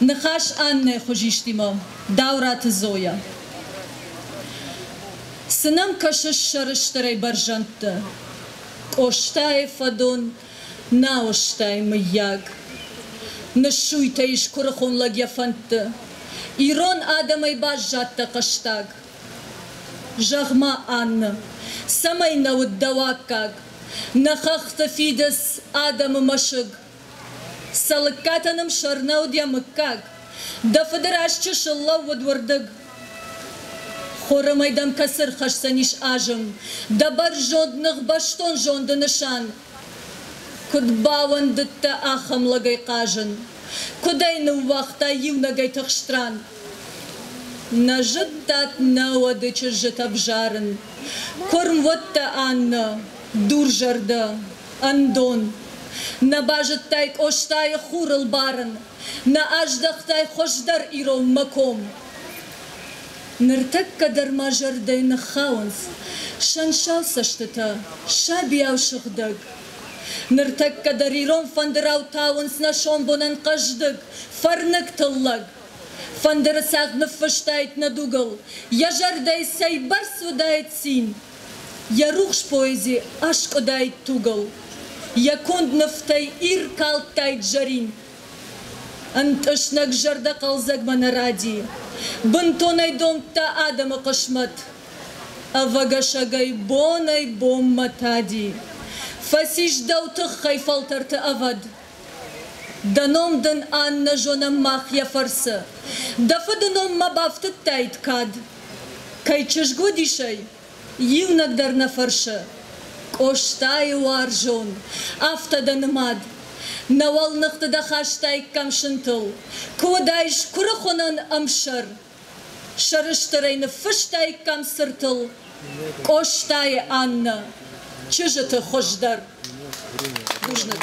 Ныхас Аннӕйы хуызистимӕ, Дауыраты Зойӕ. Цы нӕм кӕсыс сӕрыстырӕй бӕрзӕндты? Къостайы фӕдон нал ыстай, мыййаг? Ныссуйтӕ ис куырыхон лӕг йӕ фӕндты. Ирон адӕмӕй баззадтӕ хъӕстаг. Зӕгъ-ма, Аннӕ, цӕмӕй нӕ уыд дӕ уаккаг? Нӕ хӕхты фидыц, адӕмы мӕсыг, Цӕлыккатӕ нӕм сӕрнӕуыд йӕ мыггаг. Дӕ фыды раз чысыл лӕууыд уырдыг. Хорымӕй дӕм кӕцы рхӕсдзӕнис азым? Дӕ бӕрзонд ныгъбӕстон зонды нысан. Куыд бауӕндыдтӕ ахӕм лӕгӕй хъазын? Куыд ӕй ныууагътай иунӕгӕй тыхст ран? Нӕ зыдтат нӕ уӕды чызджытӕ взарын. Куырм уыдтӕ, Аннӕ. Дурзӕрдӕ, ӕндон. Нӕ базыдтай Къостайы хурыл барын, нӕ аздӕхтай хуӕздӕр иронмӕ ком. Ныртӕккӕ дӕр мӕ зӕрдӕ ныххауынц сӕнсал цӕстытӕ, сабийау сыгъдӕг. Ныртӕккӕ дӕр ирон фӕндырау тауынц нӕ сомбонӕн хъӕздыг, фӕрныг тыллӕг. Фӕндыры цагъд ныффыстаид нӕ дугыл, йӕ зӕрдӕйы цӕйбӕрц уыдаид цин. Йӕ рухс поэзи аскъуыдаид тугыл, Йӕ конд нывтӕй иркалдтаид зӕрин. Ӕнтъыснӕг зӕрдӕ хъӕлдзӕгмӕ нӕ ради, Бынтонӕй домдта адӕмы хъысмӕт, Ӕвӕгӕсӕгӕй бонӕй-бонмӕ тади. Фӕцис дӕу тыххӕй фӕлтӕрты ӕвӕд, Дӕ ном дын ан нӕ зонӕм мах йӕ фӕрцы. Дӕ фыды ном ма бафтыдтаид кӕд? Кӕй чызг уыдис ӕй, иунӕг дӕр нӕ фӕрсы. Къостайы уарзон, афтӕ дӕ нымад. Нӕ уӕлныхты дӕ хастаиккам сынтыл. Куы уыдаис куырыхуынӕн ӕмсӕр, сӕрыстырӕй ныффыстаиккам цыртыл Къостайы Аннӕ, чызджыты хуыздӕр бузныг.